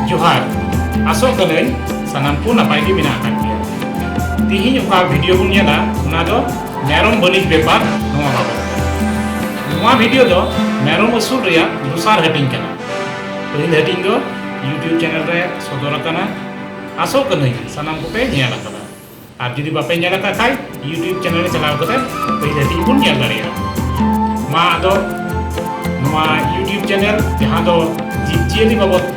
ᱡᱚᱦᱟᱨ ᱟᱥᱚᱜ ᱠᱟᱹᱱᱟᱹᱧ ᱥᱟᱱᱟᱢ ᱠᱚ ᱱᱟᱯᱟᱭ ᱜᱮ ᱢᱮᱱᱟᱜ ᱟᱠᱟᱫ ᱯᱮᱭᱟ ᱛᱤᱦᱤᱧ ᱚᱠᱟ ᱵᱷᱤᱰᱤᱭᱳ ᱵᱚᱱ ᱧᱮᱞᱟ ᱚᱱᱟ ᱫᱚ ᱢᱮᱨᱚᱢ ᱵᱟᱹᱱᱤᱡ ᱵᱮᱯᱟᱨ ᱱᱚᱣᱟ ᱵᱟᱵᱚᱫ ᱱᱚᱣᱟ ᱵᱷᱤᱰᱤᱭᱳ ᱫᱚ ᱢᱮᱨᱚᱢ ᱟᱹᱥᱩᱞ ᱨᱮᱭᱟᱜ ᱫᱚᱥᱟᱨ ᱦᱟᱹᱴᱤᱧ ᱠᱟᱱᱟ ᱯᱟᱹᱦᱤᱞ ᱦᱟᱹᱴᱤᱧ ᱫᱚ ᱭᱩᱴᱭᱩᱵᱽ ᱪᱮᱱᱮᱞ ᱨᱮ ᱥᱚᱫᱚᱨ ᱟᱠᱟᱱᱟ ᱟᱥᱚᱜ ᱠᱟᱹᱱᱟᱹᱧ ᱥᱟᱱᱟᱢ ᱠᱚᱯᱮ ᱧᱮᱞ ᱟᱠᱟᱫᱟ ᱟᱨ ᱡᱩᱫᱤ ᱵᱟᱯᱮ ᱧᱮᱞ ᱟᱠᱟᱫ ᱠᱷᱟᱡ ᱭᱩᱴᱭᱩᱵᱽ ᱪᱮᱱᱮᱞ ᱨᱮ ᱪᱟᱞᱟᱣ ᱠᱟᱛᱮ ᱯᱟᱹᱦᱤᱞ ᱦᱟᱹᱴᱤᱧ ᱵᱚᱱ ᱧᱮᱞ ᱫᱟᱲᱮᱭᱟᱜᱼᱟ ᱢᱟ ᱟᱫᱚ ᱱᱚᱣᱟ ᱭᱩᱴᱭᱩᱵᱽ ᱪᱮᱱᱮᱞ ᱡᱟᱦᱟᱸ ᱫᱚ ᱡᱤᱵᱽ ᱡᱤᱭᱟᱹᱞᱤ ᱵᱟᱵᱚᱫ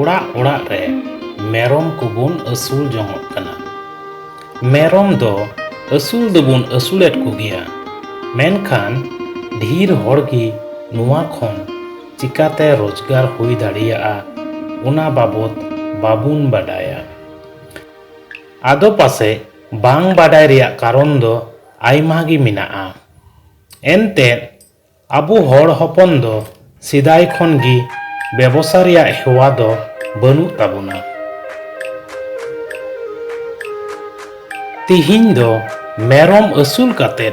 ᱚᱲᱟᱜ ᱚᱲᱟᱜ ᱨᱮ ᱢᱮᱨᱚᱢ ᱠᱚᱵᱚᱱ ᱟᱹᱥᱩᱞ ᱡᱚᱝᱚᱜ ᱠᱟᱱᱟ ᱢᱮᱨᱚᱢ ᱫᱚ ᱟᱹᱥᱩᱞ ᱫᱚᱵᱚᱱ ᱟᱹᱥᱩᱞᱮᱫ ᱠᱚᱜᱮᱭᱟ ᱢᱮᱱᱠᱷᱟᱱ ᱰᱷᱮᱨ ᱦᱚᱲ ᱜᱮ ᱱᱚᱣᱟ ᱠᱷᱚᱱ ᱪᱤᱠᱟᱛᱮ ᱨᱳᱡᱽᱜᱟᱨ ᱦᱩᱭ ᱫᱟᱲᱮᱭᱟᱜᱼᱟ ᱚᱱᱟ ᱵᱟᱵᱚᱫ ᱵᱟᱵᱚᱱ ᱵᱟᱰᱟᱭᱟ ᱟᱫᱚ ᱯᱟᱥᱮᱡ ᱵᱟᱝ ᱵᱟᱰᱟᱭ ᱨᱮᱭᱟᱜ ᱠᱟᱨᱚᱱ ᱫᱚ ᱟᱭᱢᱟ ᱜᱮ ᱢᱮᱱᱟᱜᱼᱟ ᱮᱱᱛᱮᱫ ᱟᱵᱚ ᱦᱚᱲ ᱦᱚᱯᱚᱱ ᱫᱚ ᱥᱮᱫᱟᱭ ᱠᱷᱚᱱ ᱜᱮ ᱵᱮᱵᱚᱥᱟ ᱨᱮᱭᱟᱜ ᱦᱮᱣᱟ ᱫᱚ ᱵᱟᱹᱱᱩᱜ ᱛᱟᱵᱚᱱᱟ᱾ ᱛᱤᱦᱤᱧ ᱫᱚ ᱢᱮᱨᱚᱢ ᱟᱹᱥᱩᱞ ᱠᱟᱛᱮ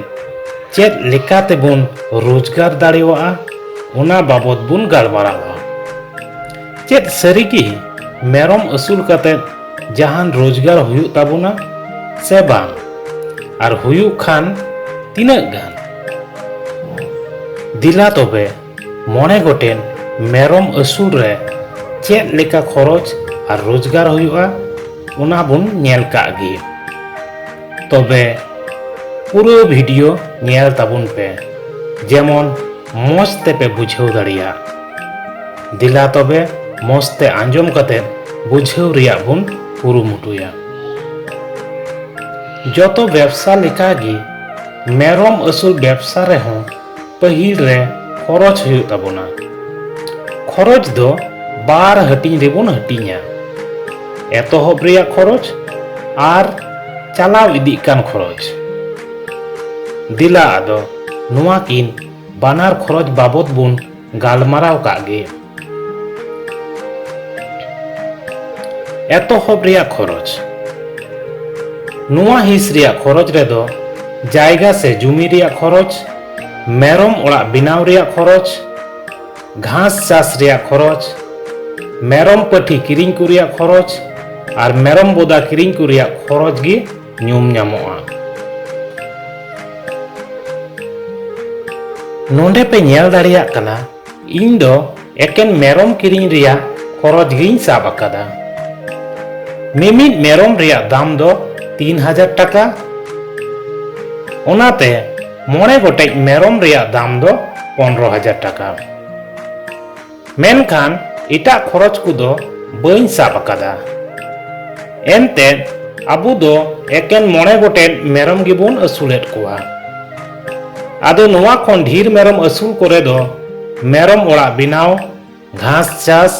ᱪᱮᱫ ᱞᱮᱠᱟ ᱛᱮᱵᱚᱱ ᱨᱳᱡᱽᱜᱟᱨ ᱫᱟᱲᱮᱣᱟᱜᱼᱟ ᱚᱱᱟ ᱵᱟᱵᱚᱛ ᱵᱚᱱ ᱜᱟᱞᱢᱟᱨᱟᱣᱟ᱾ ᱪᱮᱫ ᱥᱟᱹᱨᱤ ᱜᱮ ᱢᱮᱨᱚᱢ ᱟᱹᱥᱩᱞ ᱠᱟᱛᱮ ᱡᱟᱦᱟᱱ ᱨᱳᱡᱽᱜᱟᱨ ᱦᱩᱭᱩᱜ ᱛᱟᱵᱚᱱᱟ ᱥᱮ ᱵᱟᱝ ᱟᱨ ᱦᱩᱭᱩᱜ ᱠᱷᱟᱱ ᱛᱤᱱᱟᱹᱜ ᱜᱟᱱ? ᱫᱤᱞᱟ ᱛᱚᱵᱮ ᱢᱚᱬᱮ ᱜᱚᱴᱮᱱ ᱢᱮᱨᱚᱢ ᱟᱹᱥᱩᱞ ᱨᱮ ᱪᱮᱫ ᱞᱮᱠᱟ ᱠᱷᱚᱨᱚᱪ ᱟᱨ ᱨᱳᱡᱽᱜᱟᱨ ᱦᱩᱭᱩᱜᱼᱟ ᱚᱱᱟ ᱵᱚᱱ ᱧᱮᱞ ᱠᱟᱜ ᱜᱮ ᱛᱚᱵᱮ ᱯᱩᱨᱟᱹ ᱵᱷᱤᱰᱤᱭᱳ ᱧᱮᱞ ᱛᱟᱵᱚᱱ ᱯᱮ ᱡᱮᱢᱚᱱ ᱢᱚᱡᱽ ᱛᱮᱯᱮ ᱵᱩᱡᱷᱟᱹᱣ ᱫᱟᱲᱮᱭᱟᱜ ᱫᱤᱞᱟ ᱛᱚᱵᱮ ᱢᱚᱡᱽ ᱛᱮ ᱟᱸᱡᱚᱢ ᱠᱟᱛᱮ ᱵᱩᱡᱷᱟᱹᱣ ᱨᱮᱭᱟᱜ ᱵᱚᱱ ᱠᱩᱨᱩᱢᱩᱴᱩᱭᱟ ᱡᱚᱛᱚ ᱵᱮᱵᱽᱥᱟ ᱞᱮᱠᱟᱜᱮ ᱢᱮᱨᱚᱢ ᱟᱹᱥᱩᱞ ᱵᱮᱵᱽᱥᱟ ᱨᱮᱦᱚᱸ ᱯᱟᱹᱦᱤᱞ ᱨᱮ ᱠᱷᱚᱨᱚᱪ ᱦᱩᱭᱩᱜ ᱛᱟᱵᱚᱱᱟ ᱠᱷᱚᱨᱚᱪ ᱫᱚ ᱵᱟᱨ ᱦᱟᱹᱴᱤᱧ ᱨᱮᱵᱚᱱ ᱦᱟᱹᱴᱤᱧᱟ ᱮᱛᱚᱦᱚᱵ ᱨᱮᱭᱟᱜ ᱠᱷᱚᱨᱚᱪ ᱟᱨ ᱪᱟᱞᱟᱣ ᱤᱫᱤᱜ ᱠᱟᱱ ᱠᱷᱚᱨᱚᱪ ᱫᱮᱞᱟ ᱟᱫᱚ ᱱᱚᱣᱟ ᱠᱤᱱ ᱵᱟᱱᱟᱨ ᱠᱷᱚᱨᱚᱪ ᱵᱟᱵᱚᱫ ᱵᱚᱱ ᱜᱟᱞᱢᱟᱨᱟᱣ ᱠᱟᱜ ᱜᱮ ᱮᱛᱚᱦᱚᱵ ᱨᱮᱭᱟᱜ ᱠᱷᱚᱨᱚᱪ ᱱᱚᱣᱟ ᱦᱤᱸᱥ ᱨᱮᱭᱟᱜ ᱠᱷᱚᱨᱚᱪ ᱨᱮᱫᱚ ᱡᱟᱭᱜᱟ ᱥᱮ ᱡᱩᱢᱤ ᱨᱮᱭᱟᱜ ᱠᱷᱚᱨᱚᱪ ᱢᱮᱨᱚᱢ ᱚᱲᱟᱜ ᱵᱮᱱᱟᱣ ᱨᱮᱭᱟᱜ ᱠᱷᱚᱨᱚᱪ ᱜᱷᱟᱥ ᱪᱟᱥ ᱨᱮᱭᱟᱜ ᱠᱷᱚᱨᱚᱪ ᱢᱮᱨᱚᱢ ᱯᱟᱹᱴᱷᱤ ᱠᱤᱨᱤᱧ ᱠᱚ ᱨᱮᱭᱟᱜ ᱠᱷᱚᱨᱚᱪ ᱟᱨ ᱢᱮᱨᱚᱢ ᱵᱚᱫᱟ ᱠᱤᱨᱤᱧ ᱠᱚ ᱨᱮᱭᱟᱜ ᱠᱷᱚᱨᱚᱪ ᱜᱮ ᱧᱩᱢ ᱧᱟᱢᱚᱜᱼᱟ ᱱᱚᱰᱮ ᱯᱮ ᱧᱮᱞ ᱫᱟᱲᱮᱭᱟᱜ ᱠᱟᱱᱟ ᱤᱧ ᱫᱚ ᱮᱠᱮᱱ ᱢᱮᱨᱚᱢ ᱠᱤᱨᱤᱧ ᱨᱮᱭᱟᱜ ᱠᱷᱚᱨᱚᱪ ᱜᱤᱧ ᱥᱟᱵ ᱟᱠᱟᱫᱟ ᱢᱤᱢᱤᱫ ᱢᱮᱨᱚᱢ ᱨᱮᱭᱟᱜ ᱫᱟᱢ ᱫᱚ ᱛᱤᱱ ᱦᱟᱡᱟᱨ ᱴᱟᱠᱟ ᱚᱱᱟᱛᱮ ᱢᱚᱬᱮ ᱜᱚᱴᱮᱡ ᱢᱮᱨᱚᱢ ᱨᱮᱭᱟᱜ ᱫᱟᱢ ᱫᱚ ᱯᱚᱱᱨᱚ ᱦᱟᱡᱟᱨ ᱴᱟᱠᱟ ᱢᱮᱱᱠᱷᱟᱱ ᱮᱴᱟᱜ ᱠᱷᱚᱨᱚᱪ ᱠᱚᱫᱚ ᱵᱟᱹᱧ ᱥᱟᱵ ᱟᱠᱟᱫᱟ ᱮᱱᱛᱮᱫ ᱟᱵᱚ ᱫᱚ ᱮᱠᱮᱱ ᱢᱚᱬᱮ ᱜᱚᱴᱮᱡ ᱢᱮᱨᱚᱢ ᱜᱮᱵᱚᱱ ᱟᱹᱥᱩᱞᱮᱫ ᱠᱚᱣᱟ ᱟᱫᱚ ᱱᱚᱣᱟ ᱠᱷᱚᱱ ᱰᱷᱤᱨ ᱢᱮᱨᱚᱢ ᱟᱹᱥᱩᱞ ᱠᱚᱨᱮ ᱫᱚ ᱢᱮᱨᱚᱢ ᱚᱲᱟᱜ ᱵᱮᱱᱟᱣ ᱜᱷᱟᱥ ᱪᱟᱥ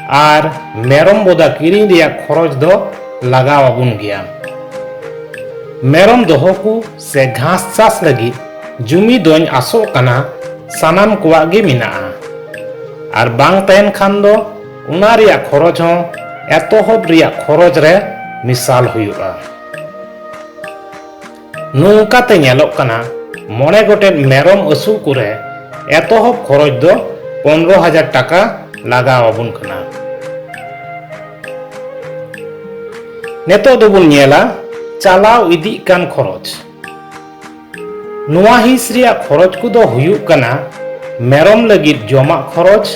ᱟᱨ ᱢᱮᱨᱚᱢ ᱵᱚᱫᱟ ᱠᱤᱨᱤᱧ ᱨᱮᱭᱟᱜ ᱠᱷᱚᱨᱚᱪ ᱫᱚ ᱞᱟᱜᱟᱣ ᱟᱵᱚᱱ ᱜᱮᱭᱟ ᱢᱮᱨᱚᱢ ᱫᱚᱦᱚ ᱠᱚ ᱥᱮ ᱜᱷᱟᱥ ᱪᱟᱥ ᱞᱟᱹᱜᱤᱫ ᱡᱩᱢᱤ ᱫᱚᱧ ᱟᱥᱚᱜ ᱠᱟᱱᱟ ᱥᱟᱱᱟᱢ ᱠᱚᱣᱟᱜ ᱜᱮ ᱢᱮᱱᱟᱜᱼᱟ ᱟᱨ ᱵᱟᱝ ᱛᱟᱦᱮᱱ ᱠᱷᱟᱱ ᱫᱚ ᱚᱱᱟ ᱨᱮᱭᱟᱜ ᱠᱷᱚᱨᱚᱪ ᱦᱚᱸ ᱮᱛᱚᱦᱚᱵ ᱨᱮᱭᱟᱜ ᱠᱷᱚᱨᱚᱪ ᱨᱮ ᱢᱮᱥᱟᱞ ᱦᱩᱭᱩᱜᱼᱟ ᱱᱚᱝᱠᱟᱛᱮ ᱧᱮᱞᱚᱜ ᱠᱟᱱᱟ ᱢᱚᱬᱮ ᱜᱚᱴᱮᱱ ᱢᱮᱨᱚᱢ ᱟᱹᱥᱩᱞ ᱠᱚᱨᱮ ᱮᱛᱚᱦᱚᱵ ᱠᱷᱚᱨᱚᱪ ᱫᱚ ᱯᱚᱱᱨᱚ ᱦᱟᱡᱟᱨ ᱴᱟᱠᱟ ᱞᱟᱜᱟᱣ ᱟᱵᱚᱱ ᱠᱟᱱᱟ ᱱᱤᱛᱚᱜ ᱫᱚᱵᱚᱱ ᱧᱮᱞᱟ ᱪᱟᱞᱟᱣ ᱤᱫᱤᱜ ᱠᱟᱱ ᱠᱷᱚᱨᱚᱪ ᱱᱚᱣᱟ ᱦᱤᱸᱥ ᱨᱮᱭᱟᱜ ᱠᱷᱚᱨᱚᱪ ᱠᱚᱫᱚ ᱦᱩᱭᱩᱜ ᱠᱟᱱᱟ ᱢᱮᱨᱚᱢ ᱞᱟᱹᱜᱤᱫ ᱡᱚᱢᱟᱜ ᱠᱷᱚᱨᱚᱪ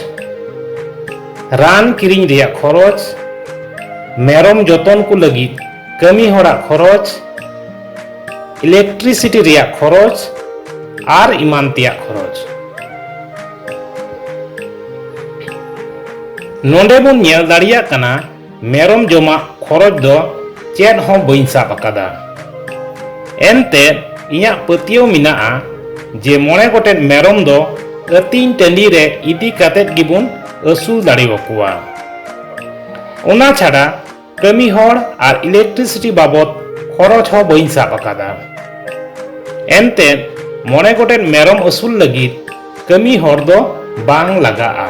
ᱨᱟᱱ ᱠᱤᱨᱤᱧ ᱨᱮᱭᱟᱜ ᱠᱷᱚᱨᱚᱪ ᱢᱮᱨᱚᱢ ᱡᱚᱛᱚᱱ ᱠᱚ ᱞᱟᱹᱜᱤᱫ ᱠᱟᱹᱢᱤ ᱦᱚᱲᱟᱜ ᱠᱷᱚᱨᱚᱪ ᱤᱞᱮᱠᱴᱨᱤᱥᱤᱴᱤ ᱨᱮᱭᱟᱜ ᱠᱷᱚᱨᱚᱪ ᱟᱨ ᱮᱢᱟᱱ ᱛᱮᱭᱟᱜ ᱠᱷᱚᱨᱚᱪ ᱱᱚᱰᱮ ᱵᱚᱱ ᱧᱮᱞ ᱫᱟᱲᱮᱭᱟᱜ ᱠᱟᱱᱟ ᱢᱮᱨᱚᱢ ᱡᱚᱢᱟᱜ ᱠᱷᱚᱨᱚᱪ ᱫᱚ ᱪᱮᱫ ᱦᱚᱸ ᱵᱟᱹᱧ ᱥᱟᱵ ᱟᱠᱟᱫᱟ ᱮᱱᱛᱮ ᱤᱧᱟᱹᱜ ᱯᱟᱹᱛᱭᱟᱹᱣ ᱢᱮᱱᱟᱜᱼᱟ ᱡᱮ ᱢᱚᱬᱮ ᱜᱚᱴᱮᱱ ᱢᱮᱨᱚᱢ ᱫᱚ ᱟᱹᱛᱤᱧ ᱴᱟᱺᱰᱤ ᱨᱮ ᱤᱫᱤ ᱠᱟᱛᱮᱫ ᱜᱮᱵᱚᱱ ᱟᱹᱥᱩᱞ ᱫᱟᱲᱮᱣᱟᱠᱚᱣᱟ ᱚᱱᱟ ᱪᱷᱟᱰᱟ ᱠᱟᱹᱢᱤ ᱦᱚᱲ ᱟᱨ ᱤᱞᱮᱠᱴᱨᱤᱥᱤᱴᱤ ᱵᱟᱵᱚᱫ ᱠᱷᱚᱨᱚᱪ ᱦᱚᱸ ᱵᱟᱹᱧ ᱥᱟᱵ ᱟᱠᱟᱫᱟ ᱮᱱᱛᱮ ᱢᱚᱬᱮ ᱜᱚᱴᱮᱱ ᱢᱮᱨᱚᱢ ᱟᱹᱥᱩᱞ ᱞᱟᱹᱜᱤᱫ ᱠᱟᱹᱢᱤ ᱦᱚᱲ ᱫᱚ ᱵᱟᱝ ᱞᱟᱜᱟᱜᱼᱟ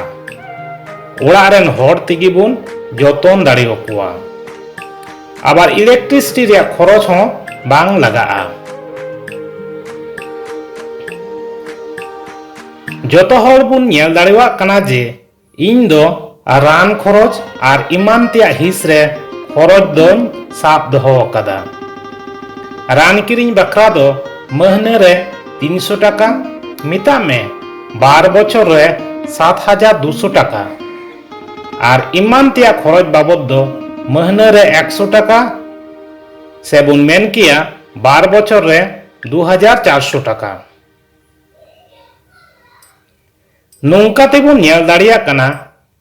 ᱚᱲᱟᱜ ᱨᱮᱱ ᱦᱚᱲ ᱛᱮᱜᱮ ᱵᱚᱱ ᱡᱚᱛᱚᱱ ᱫᱟᱲᱮᱭᱟᱠᱚᱣᱟ ᱟᱵᱟᱨ ᱤᱞᱮᱠᱴᱨᱤᱥᱤᱴᱤ ᱨᱮᱭᱟᱜ ᱠᱷᱚᱨᱚᱪ ᱦᱚᱸ ᱵᱟᱝ ᱞᱟᱜᱟᱜᱼᱟ ᱡᱚᱛᱚ ᱦᱚᱲ ᱵᱚᱱ ᱧᱮᱞ ᱫᱟᱲᱮᱭᱟᱜ ᱠᱟᱱᱟ ᱡᱮ ᱤᱧ ᱫᱚ ᱨᱟᱱ ᱠᱷᱚᱨᱚᱪ ᱟᱨ ᱮᱢᱟᱱ ᱛᱮᱭᱟᱜ ᱦᱤᱸᱥ ᱨᱮ ᱠᱷᱚᱨᱚᱪ ᱫᱚᱧ ᱥᱟᱵ ᱫᱚᱦᱚ ᱟᱠᱟᱫᱟ ᱨᱟᱱ ᱠᱤᱨᱤᱧ ᱵᱟᱠᱷᱨᱟ ᱫᱚ ᱢᱟᱹᱦᱱᱟᱹ ᱨᱮ ᱛᱤᱱᱥᱚ ᱴᱟᱠᱟ ᱢᱮᱛᱟᱜ ᱢᱮ ᱵᱟᱨ ᱵᱚᱪᱷᱚᱨ ᱨᱮ ᱥᱟᱛ ᱦᱟᱡᱟᱨ ᱫᱩᱥᱚ ᱴᱟᱠᱟ ᱟᱨ ᱮᱢᱟᱱ ᱛᱮᱭᱟᱜ ᱠᱷᱚᱨᱚᱪ ᱵᱟᱵᱚᱫ ᱫᱚ ᱢᱟᱹᱦᱱᱟᱹ ᱨᱮ ᱮᱠᱥᱚ ᱴᱟᱠᱟ ᱥᱮ ᱵᱚᱱ ᱢᱮᱱ ᱠᱮᱭᱟ ᱵᱟᱨ ᱵᱚᱪᱷᱚᱨ ᱨᱮ ᱫᱩ ᱦᱟᱡᱟᱨ ᱪᱟᱨᱥᱚ ᱴᱟᱠᱟ ᱱᱚᱝᱠᱟ ᱛᱮ ᱵᱚᱱ ᱧᱮᱞ ᱫᱟᱲᱮᱭᱟᱜ ᱠᱟᱱᱟ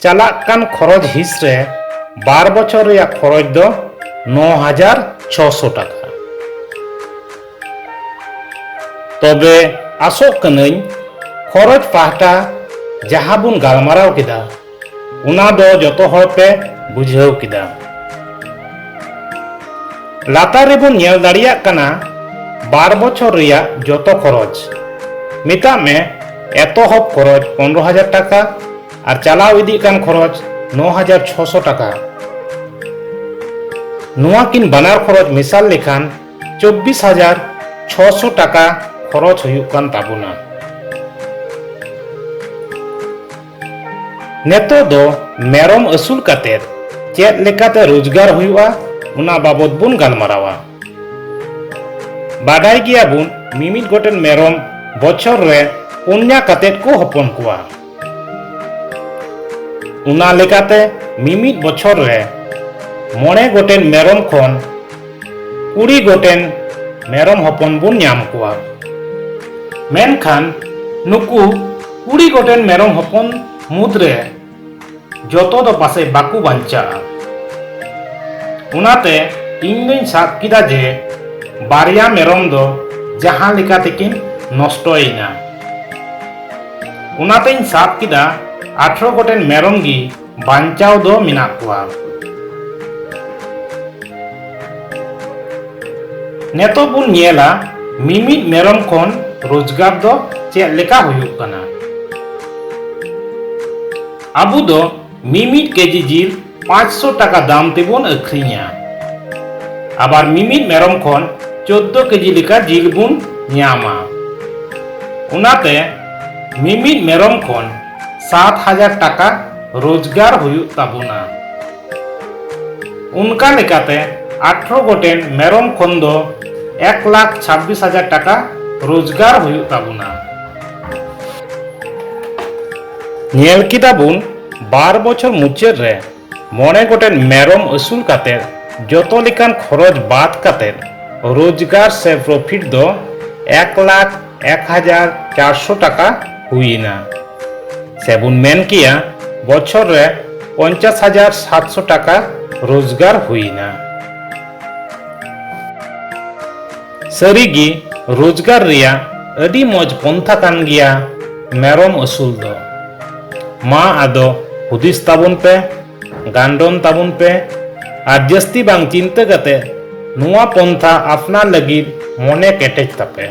ᱪᱟᱞᱟᱜ ᱠᱟᱱ ᱠᱷᱚᱨᱚᱪ ᱦᱤᱸᱥ ᱨᱮ ᱵᱟᱨ ᱵᱚᱪᱷᱚᱨ ᱨᱮᱭᱟᱜ ᱠᱷᱚᱨᱚᱪ ᱫᱚ ᱱᱚ ᱦᱟᱡᱟᱨ ᱪᱷᱚᱥᱚ ᱴᱟᱠᱟ ᱛᱚᱵᱮ ᱟᱥᱚᱜ ᱠᱟᱹᱱᱟᱹᱧ ᱠᱷᱚᱨᱚᱪ ᱯᱟᱦᱴᱟ ᱡᱟᱦᱟᱸ ᱵᱚᱱ ᱜᱟᱞᱢᱟᱨᱟᱣ ᱠᱮᱫᱟ ᱚᱱᱟ ᱫᱚ ᱡᱚᱛᱚ ᱦᱚᱲ ᱯᱮ ᱵᱩᱡᱷᱟᱹᱣ ᱠᱮᱫᱟ ᱞᱟᱛᱟᱨ ᱨᱮᱵᱚᱱ ᱧᱮᱞ ᱫᱟᱲᱮᱭᱟᱜ ᱠᱟᱱᱟ ᱵᱟᱨ ᱵᱚᱪᱷᱚᱨ ᱨᱮᱭᱟᱜ ᱡᱚᱛᱚ ᱠᱷᱚᱨᱚᱪ ᱢᱮᱛᱟᱜ ᱢᱮ ᱮᱛᱚᱦᱚᱵ ᱠᱷᱚᱨᱚᱪ ᱯᱚᱱᱨᱚ ᱦᱟᱡᱟᱨ ᱴᱟᱠᱟ ᱟᱨ ᱪᱟᱞᱟᱣ ᱤᱫᱤᱜ ᱠᱟᱱ ᱠᱷᱚᱨᱚᱪ ᱱᱚ ᱦᱟᱡᱟᱨ ᱪᱷᱚᱥᱚ ᱴᱟᱠᱟ ᱱᱚᱣᱟ ᱠᱤᱱ ᱵᱟᱱᱟᱨ ᱠᱷᱚᱨᱚᱪ ᱢᱮᱥᱟᱞ ᱞᱮᱠᱷᱟᱱ ᱪᱚᱵᱵᱤᱥ ᱦᱟᱡᱟᱨ ᱪᱷᱚᱥᱚ ᱴᱟᱠᱟ ᱠᱷᱚᱨᱚᱪ ᱦᱩᱭᱩᱜ ᱠᱟᱱ ᱛᱟᱵᱚᱱᱟ ᱱᱤᱛᱚᱜ ᱫᱚ ᱢᱮᱨᱚᱢ ᱟᱹᱥᱩᱞ ᱠᱟᱛᱮ ᱪᱮᱫ ᱞᱮᱠᱟᱛᱮ ᱨᱳᱡᱽᱜᱟᱨ ᱦᱩᱭᱩᱜᱼᱟ ᱚᱱᱟ ᱵᱟᱵᱚᱫ ᱵᱚᱱ ᱜᱟᱞᱢᱟᱨᱟᱣᱟ ᱵᱟᱰᱟᱭ ᱜᱮᱭᱟ ᱵᱚᱱ ᱢᱤᱢᱤᱫ ᱜᱚᱴᱮᱱ ᱢᱮᱨᱚᱢ ᱵᱚᱪᱷᱚᱨ ᱨᱮ ᱯᱩᱱᱭᱟ ᱠᱟᱛᱮ ᱠᱚ ᱦᱚᱯᱚᱱ ᱠᱚᱣᱟ ᱚᱱᱟ ᱞᱮᱠᱟᱛᱮ ᱢᱤᱢᱤᱫ ᱵᱚᱪᱷᱚᱨ ᱨᱮ ᱢᱚᱬᱮ ᱜᱚᱴᱮᱱ ᱢᱮᱨᱚᱢ ᱠᱷᱚᱱ ᱠᱩᱲᱤ ᱜᱚᱴᱮᱱ ᱢᱮᱨᱚᱢ ᱦᱚᱯᱚᱱ ᱵᱚᱱ ᱧᱟᱢ ᱠᱚᱣᱟ ᱢᱮᱱᱠᱷᱟᱱ ᱱᱩᱠᱩ ᱠᱩᱲᱤ ᱜᱚᱴᱮᱱ ᱢᱮᱨᱚᱢ ᱦᱚᱯᱚᱱ ᱢᱩᱫᱽ ᱨᱮ ᱡᱚᱛᱚ ᱫᱚ ᱯᱟᱥᱮ ᱵᱟᱠᱚ ᱵᱟᱧᱪᱟᱜᱼᱟ ᱚᱱᱟᱛᱮ ᱤᱧ ᱫᱚᱧ ᱥᱟᱵ ᱠᱮᱫᱟ ᱡᱮ ᱵᱟᱨᱭᱟ ᱢᱮᱨᱚᱢ ᱫᱚ ᱡᱟᱦᱟᱸ ᱞᱮᱠᱟ ᱛᱮᱠᱤᱱ ᱱᱚᱥᱴᱚᱭᱮᱱᱟ ᱚᱱᱟᱛᱮᱧ ᱥᱟᱵ ᱠᱮᱫᱟ ᱟᱴᱷᱨᱚ ᱜᱚᱴᱮᱱ ᱢᱮᱨᱚᱢ ᱜᱮ ᱵᱟᱧᱪᱟᱣ ᱫᱚ ᱢᱮᱱᱟᱜ ᱠᱚᱣᱟ ᱱᱤᱛᱚᱜ ᱵᱚᱱ ᱧᱮᱞᱟ ᱢᱤᱢᱤᱫ ᱢᱮᱨᱚᱢ ᱠᱷᱚᱱ ᱨᱳᱡᱽᱜᱟᱨ ᱫᱚ ᱪᱮᱫ ᱞᱮᱠᱟ ᱦᱩᱭᱩᱜ ᱠᱟᱱᱟ ᱟᱵᱚ ᱫᱚ ᱢᱤᱢᱤᱫ ᱠᱮᱡᱤ ᱡᱤᱞ 500 ᱴᱟᱠᱟ ᱫᱟᱢ ᱛᱮᱵᱚᱱ ᱟᱹᱠᱷᱨᱤᱧᱟ ᱟᱵᱟᱨ ᱢᱤᱢᱤᱫ ᱢᱮᱨᱚᱢ ᱠᱷᱚᱱ 14 ᱠᱮᱡᱤ ᱞᱮᱠᱟ ᱡᱤᱞ ᱵᱚᱱ ᱧᱟᱢᱟ ᱚᱱᱟᱛᱮ ᱢᱤᱢᱤᱫ ᱢᱮᱨᱚᱢ ᱠᱷᱚᱱ ᱥᱟᱛ ᱦᱟᱡᱟᱨ ᱴᱟᱠᱟ ᱨᱳᱡᱽᱜᱟᱨ ᱦᱩᱭᱩᱜ ᱛᱟᱵᱚᱱᱟ ᱚᱱᱠᱟ ᱞᱮᱠᱟᱛᱮ ᱟᱴᱷᱨᱚ ᱜᱚᱴᱮᱱ ᱢᱮᱨᱚᱢ ᱠᱷᱚᱱ ᱫᱚ ᱮᱠ ᱞᱟᱠᱷ ᱪᱷᱟᱵᱵᱤᱥ ᱦᱟᱡᱟᱨ ᱴᱟᱠᱟ ᱨᱳᱡᱽᱜᱟᱨ ᱦᱩᱭᱩᱜ ᱛᱟᱵᱚᱱᱟ ᱧᱮᱞ ᱠᱮᱫᱟ ᱵᱚᱱ ᱵᱟᱨ ᱵᱚᱪᱷᱚᱨ ᱢᱩᱪᱟᱹᱫ ᱨᱮ ᱢᱚᱬᱮ ᱜᱚᱴᱮᱱ ᱢᱮᱨᱚᱢ ᱟᱹᱥᱩᱞ ᱠᱟᱛᱮ ᱡᱚᱛᱚ ᱞᱮᱠᱟᱱ ᱠᱷᱚᱨᱚᱪ ᱵᱟᱫ ᱠᱟᱛᱮ ᱨᱳᱡᱽᱜᱟᱨ ᱥᱮ ᱯᱨᱚᱯᱷᱤᱴ ᱫᱚ ᱮᱠ ᱞᱟᱠᱷ ᱮᱠ ᱦᱟᱡᱟᱨ ᱪᱟᱨᱥᱚ ᱴᱟᱠᱟ ᱦᱩᱭᱮᱱᱟ ᱥᱮᱵᱚᱱ ᱢᱮᱱ ᱠᱮᱭᱟ ᱵᱚᱪᱷᱚᱨ ᱨᱮ ᱯᱚᱧᱪᱟᱥ ᱦᱟᱡᱟᱨ ᱥᱟᱛᱥᱚ ᱴᱟᱠᱟ ᱨᱳᱡᱽᱜᱟᱨ ᱦᱩᱭᱮᱱᱟ ᱥᱟᱹᱨᱤ ᱜᱮ ᱨᱳᱡᱽᱜᱟᱨ ᱨᱮᱭᱟᱜ ᱟᱹᱰᱤ ᱢᱚᱡᱽ ᱯᱚᱱᱛᱷᱟ ᱠᱟᱱ ᱜᱮᱭᱟ ᱢᱮᱨᱚᱢ ᱟᱹᱥᱩᱞ ᱫᱚ ᱢᱟ ᱟᱫᱚ ᱦᱩᱫᱤᱥ ᱛᱟᱵᱚᱱ ᱯᱮ ᱜᱟᱱᱰᱚᱱ ᱛᱟᱵᱚᱱ ᱯᱮ ᱟᱨ ᱡᱟᱹᱥᱛᱤ ᱵᱟᱝ ᱪᱤᱱᱛᱟᱹ ᱠᱟᱛᱮ ᱱᱚᱣᱟ ᱯᱚᱱᱛᱷᱟ ᱟᱯᱱᱟᱨ ᱞᱟᱹᱜᱤᱫ ᱢᱚᱱᱮ ᱠᱮᱴᱮᱡ ᱛᱟᱯᱮ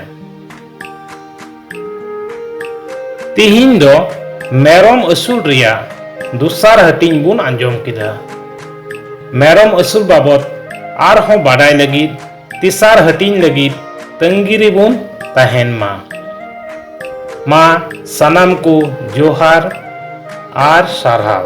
ᱛᱤᱦᱤᱧ ᱫᱚ ᱢᱮᱨᱚᱢ ᱟᱹᱥᱩᱞ ᱨᱮᱭᱟᱜ ᱫᱚᱥᱟᱨ ᱦᱟᱹᱴᱤᱧ ᱵᱚᱱ ᱟᱸᱡᱚᱢ ᱠᱮᱫᱟ ᱢᱮᱨᱚᱢ ᱟᱹᱥᱩᱞ ᱵᱟᱵᱚᱫ ᱟᱨᱦᱚᱸ ᱵᱟᱰᱟᱭ ᱞᱟᱹᱜᱤᱫ ᱛᱮᱥᱟᱨ ᱦᱟᱹᱴᱤᱧ ᱞᱟᱹᱜᱤᱫ ᱛᱟᱹᱝᱜᱤ ᱨᱮᱵᱚᱱ ᱛᱟᱦᱮᱱ ᱢᱟ ᱢᱟ ᱥᱟᱱᱟᱢ ᱠᱚ ᱡᱚᱦᱟᱨ ᱟᱨ ᱥᱟᱨᱦᱟᱣ